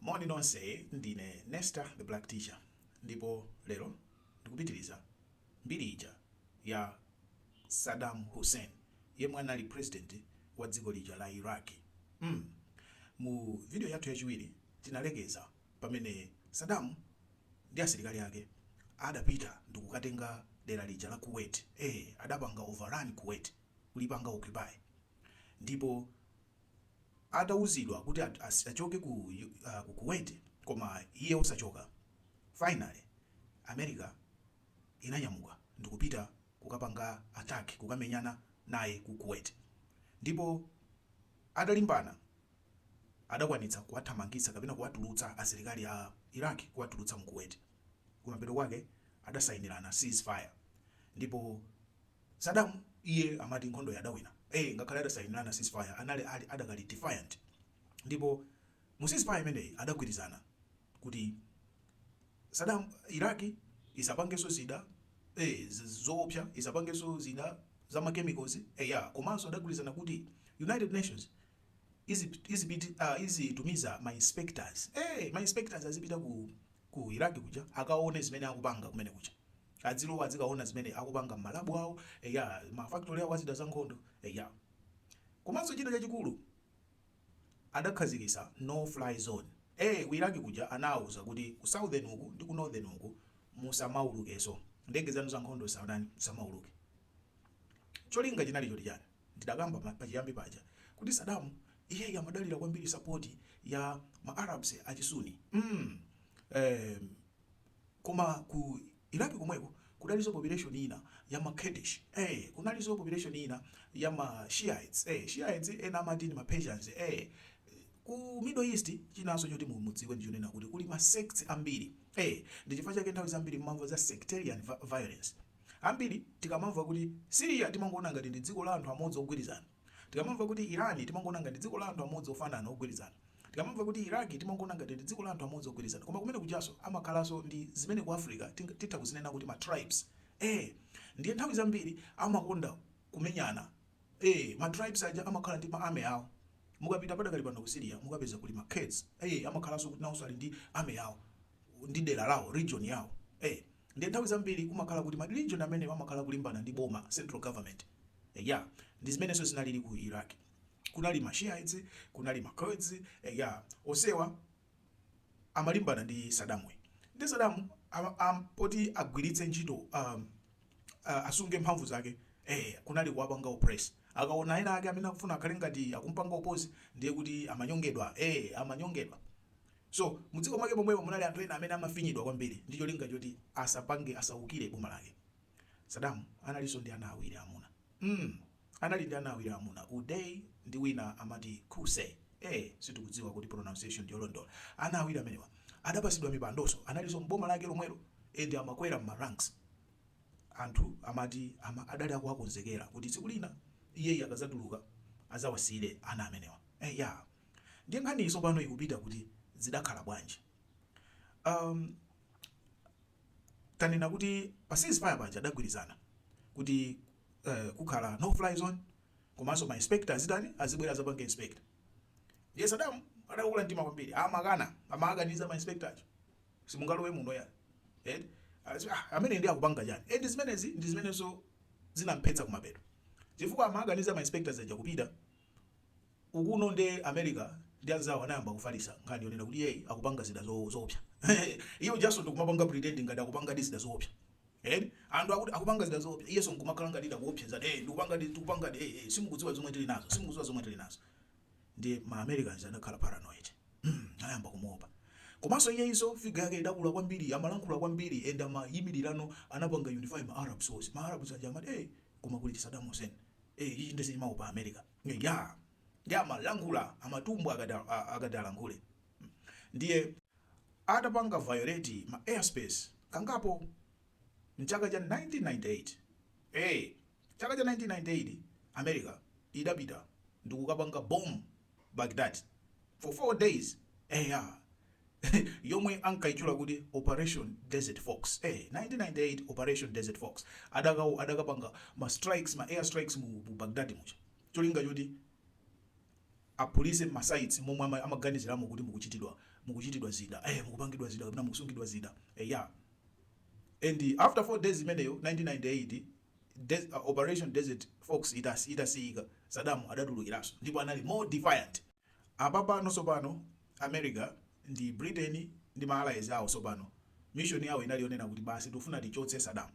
Moni nonse ndine Nesta the black teacher ndipo lero ndikupitiliza mbiri ija ya Saddam Hussein yemwe anali president wa dziko lija la Iraq mm mu video yathu yachiwiri tinalekeza pamene Saddam ndi asilikali ake adapita ndikukatenga dera lija la Kuwait eeh adapanga overrun Kuwait kulipanga occupy ndipo atauzidwa kuti achoke ku kuwait koma iye osachoka finally america inanyamuka ndikupita kukapanga attack kukamenyana naye ku kuwait ndipo adalimbana adakwanitsa kuwathamangitsa kapena kuwatulutsa asilikali a iraq kuwatulutsa mu kuwait kumapeto kwake adasainilana cease fire ndipo Saddam iye amati nkhondoyi adawina ee ngakhale adasayinirana ceasefire anali ali adakali defiant ndipo mu ceasefire imeneyi adagwirizana kuti Saddam Iraq isapangenso zida ee zoopsa isapangenso zida za ma chemicals eya komanso adagwirizana kuti United Nations izipit izitumiza ma inspectors ee ma inspectors azipita ku ku Iraq kuja akaone zimene akupanga kumene kuja Adzilowa adzikaona zimene akupanga mma lab awo eya ma factory awo azida zankhondo eya. Komanso china chachikulu adakhazikisa no fly zone ee ku Iraq kuja anauza kuti ku southern uku ndi ku northern uku musamaulukeso ndege zanu zankhondo zisatani zisamauluke cholinga chinali choti chani ndidakamba pachiyambi paja kuti Saddam iyeyi amadalira kwambiri support ya ma Arabs achi Sunni mm eeh Koma ku Iraq komweko kudalinso population ina ya ma Kurdish, ee! Kunalinso population ina ya ma Shiites, ee! Shiites ena amati ndi ma Persians, ee! Ku Middle East chinanso choti mudziwe ndi chonena kuti kuli ma sects ambiri, ee! Ndi chifukwa chake nthawi zambiri mumamva za sectarian violence. Ambiri tikamamva kuti Syria timangoona ngati ndi dziko la anthu amodzi ogwirizana. Tikamamva kuti Iran timangoona ngati dziko la anthu amodzi ofanana ogwirizana. Tikamamva kuti Iraq timangoona ngati ndi dziko la anthu amodzi ogwirizana koma kumene kujanso amakhalanso ndi zimene ku Africa titha kuzinena kuti ma tribes ee ndiye nthawi zambiri amakonda kumenyana. Ee ma tribes aja amakhala ndi ma army awo mukapita padakali pano ku Syria mukapeza kuli ma Kurds ee amakhalanso kuti nawonso ali ndi army yawo ndi dera lawo region yawo ee. Ndiye nthawi zambiri kumakhala kuti ma region amenewa amakhala akulimbana ndi boma, central government. Eya, ndi zimenenso zinalili ku Iraq. Kunali ma Shiites, kunali ma Kurds, eya, onsewa amalimbana ndi Saddam'yu. Ndiye Saddam, poti agwiritse ntchito, asunge mphamvu zake, eh, kunali kuwapanga oppress. Akaona ena ake amene akufuna akhale ngati akum'panga oppose, ndiye kuti amanyongedwa, eh, amanyongedwa. So mudziko mwake momwemo munali anthu ena amene amafinyidwa kwambiri ndi cholinga choti asapange asaukire boma lake. Saddam analinso ndi ana awiri amuna. mm anali ndi ana awiri amuna Uday ndi wina amati Qusay eh sitikudziwa kuti pronunciation ndiyolondola. Ana awiri amenewa adapasidwa mipandonso analinso m'boma lake lomwelo and amakwera mma ranks. Anthu amati ama adali akuwakonzekera kuti tsiku lina iyeyi akazatuluka azawasiyire ana amenewa. Eyaa. Ndiye nkhaniyi tsopano ikupita kuti zidakhala bwanji? Amm tanena kuti pa ceasefire paja adagwirizana kuti eeh kukhala no fly zone komanso ma inspector azitani, azibwera adzapange inspect. Ndiye Saddam adakula mtima kwambiri amakana amawakaniza ma inspector aja simungalowe muno iyayi eti aziti aah ameneyu ndiye akupanga chani and zimenezi ndi zimenenso zinamphetsa kumapeto chifukwa amawakaniza ma inspectors aja kupita. ukuno nde America ndi anzawo anayamba kufalisa nkhani yonena kuti iyeyi akupanga zida zoopsa iye ujanso ndikumapanga pretend ngati akupangadi zida zoopsa eti anthu akuti akupanga zida zoopsa iyenso nkumakhala ngati akuopseza ee ndikupangadi tikupangadi ee ee simukudziwa zomwe tili nazo simukudziwa zomwe tili nazo ndiye ma Americans anakhala paranoid anayamba kumuopa komanso iyeyinso figa yake idakula kwambiri amalankhula kwambiri and amayimilirano anapanga unify ma Arabs onse ma Arabs aja amati ee koma kuli Saddam Hussein ee ichichi nde sichimaopa america iyaa nde amalankhula amatumbwa akati akati alankhule ndiye atapanga violate ma airspace kangapo mchaka cha 1998 ee chaka cha 1998 america idapita ndikukapanga bomb Baghdad for 4 days eya yomwe ankayitchula kuti operation desert fox eh 1998 operation desert fox adaka adakapanga ma strikes ma air strikes mu mu Baghdad muja cholinga choti aphulise mma sites momwe ama- amaganiziramo kuti mukuchitidwa mukuchitidwa zida eh mukupangidwa zida kapena mukusungidwa zida eya and after 4 days imeneyo 1998 Operation Desert Fox itachitika, Saddam adatulukiranso ndipo anali more defiant. Apapano tsopano America ndi Britain ndi ma allies awo tsopano mission yawo inali yonena kuti basi tikufuna tichotse Saddam.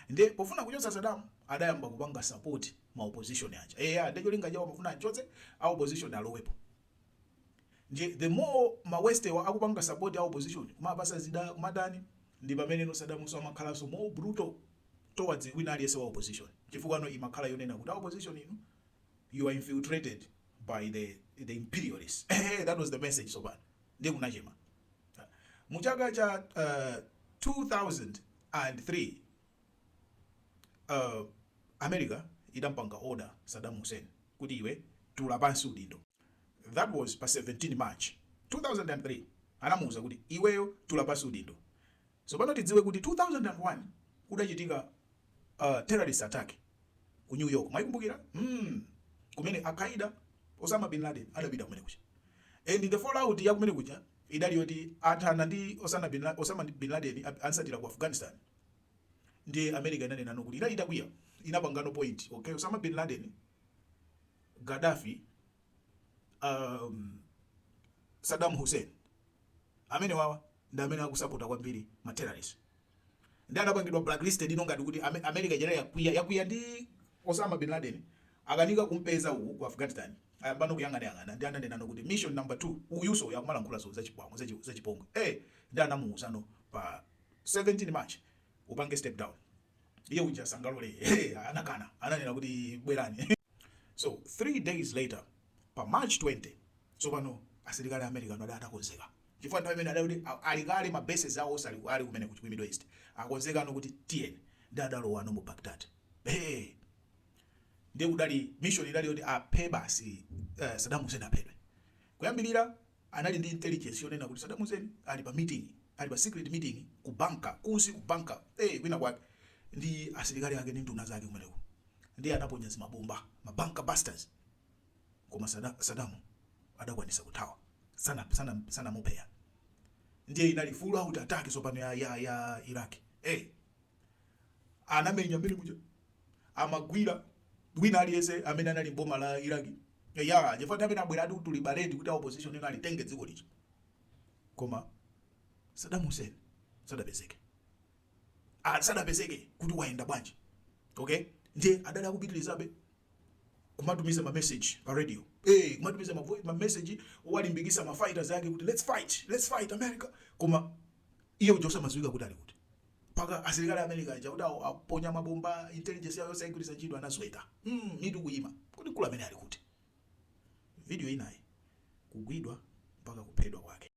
Ndiye pofuna kuchotsa Saddam adayamba kupanga support ma opposition aja. Eya, ndiye cholinga chawo amafuna amchotse, a opposition alowepo. Ndiye the more ma west'wa akupanga support a opposition, kumawapatsa zida, kumatani, ndipameneno Saddamunso amakhalanso more brutal. towards wina aliyense wa opposition chifukwa no imakhala yonena kuti a opposition inu you are infiltrated by the the imperialists ehe that was the message tsopano ndiye kunachema Ah, mu chaka cha uh, 2003 uh, America idampanga order Saddam Hussein kuti iwe tula pansi udindo that was pa 17 March 2003 anamuwuza kuti iweyo tula pansi udindo Tsopano tidziwe kuti 2001 kudachitika a terrorist attack ku New York mwaikumbukira? Hmm kumene Al-Qaeda Osama Bin Laden adapita kumene kuja and the fallout ya kumene kuja idali yoti athana ndi Osana Bin Osama Bin Laden amsatira ku Afghanistan ndiye America inanenano kuti idali itakwiya inapangano pinpoint okay Osama Bin Laden Gaddafi um, Saddam Hussein amenewawa ndi amene akusapota kwambiri ma terrorists ndi anapangidwa blacklisted ino ngati kuti Ame- America jera yakwiya yakwiya ndi Osama Bin Laden akanika kumpeza uku ku Afghanistan ayambano kuyang'anayang'ana ndi ananenano kuti mission number 2 uyuso uyu akumalankhula zo zachipwango zachi- zachipongwe eh ndi anamuuzano pa 17 March upange step down iye uja sanalole hey, anakana ananena kuti bwerani so three days later pa March 20 tsopano asilikali a America anali atakonzeka Chifukwa nthawi imene adali kuti ali kale ma bases awo onse ali kumeneko ku Middle East akonzekano kuti tiyeni ndiye adalowano mu Baghdad eeh ndiye kudali mission idali yoti aphe basi Saddam Hussein aphedwe. Kuyambirira anali ndi intelligence yonena kuti Saddam Hussein ali pa meeting ali pa secret meeting ku bunker kunsi ku bunker eeh kwina kwake ndi asilikali ake ndi nduna zake kumeneko ndiye anaponya zimabomba ma bunker busters. koma Saddam adakwanitsa kuthawa sana sana sanamuphe ya ndiye inali full out attack sopano ya ya ya Iraq hey anamenya mmizinda muja amagwira wina aliyese amene anali mboma la Iraq ya chifukwa amene abwera ati kuti tulibaledi kuti a opposition no alitenge dziko licho koma Saddam Hussein sadapezeke ah, sadapezeke kuti wayenda bwanji okay ndiye adali akupitirizabe kumatumiza ma message pa radio eh kumatumiza ma voice ma message kuwalimbikitsa ma fighters yake kuti let's fight let's fight america koma iye ujo osamadziwika kuti ali kuti mpaka asilikali america aja kuti awo- aponya mabomba intelligence yawo yonse ayigwiritsa ntchito anasweka mm, mitu kuyima kuti mkulu ameneyu ali kuti video ina ya kugwidwa mpaka kuphedwa kwake